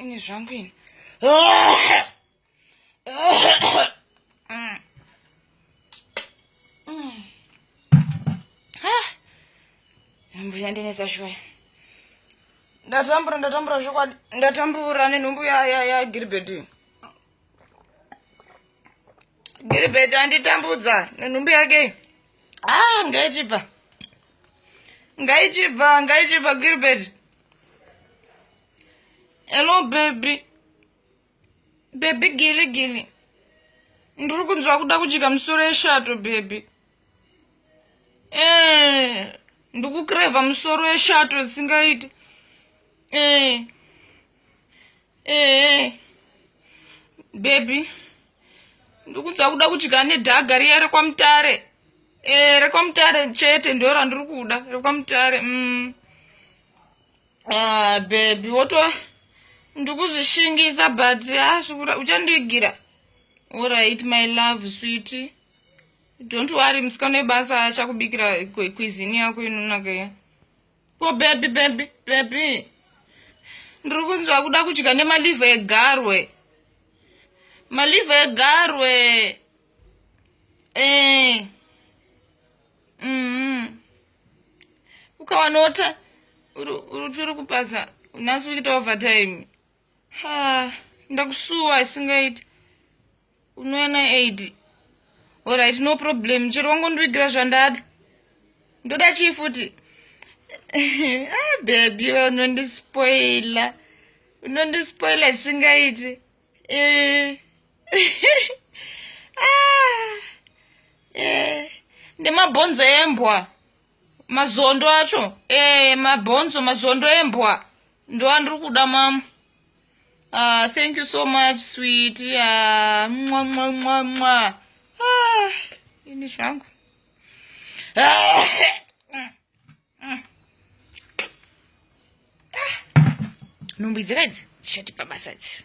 ini zvangu ini nhumbu yandinetsa shuwa ndatambura ndatambura zvokwadi ndatambura nenhumbu yagilbert ya, ya, gilbert anditambudza nenhumbu yake ah ngaichibva ngaichibva ngaichibva gilbert Hello baby. Baby gili gili. Ndiri kunzwa kuda kudya musoro yeshato baby. Eh, ndikukreva musoro yeshato singaiti. Eh. ee bebi ndikunzwa kuda kudya nedhaga riya rekwamutare ee eh, rekwamutare chete ndo randiri kuda rekwamutare mm. ah, bebi woto ndikuzvishingisa but asvikura ah, uchandiigira orit my love switi don't worry musikana webasa achakubikira kwizini yako inonaka iya ko bebi bebi bebi ndiri kunzwa kuda kudya nemalive egarwe malive egarwe eh. mm. ukawanota uri kupaza unasi kuita overtime ha ndakusuwa isingaiti unouya naid orit no problem chero wangondivigira zvandada ndoda chii futi ah, bebi we unondispoila unondispoila isingaiti eh. ah, eh. ndemabhonzo embwa mazondo acho eh mabhonzo mazondo embwa ndo andiri kuda mamu ah thank you so much sweet ya ah, mwa mwa mwa mwa ah ini zvangu ah. nhumbu idzi kaidzi zvichatipa basa idzi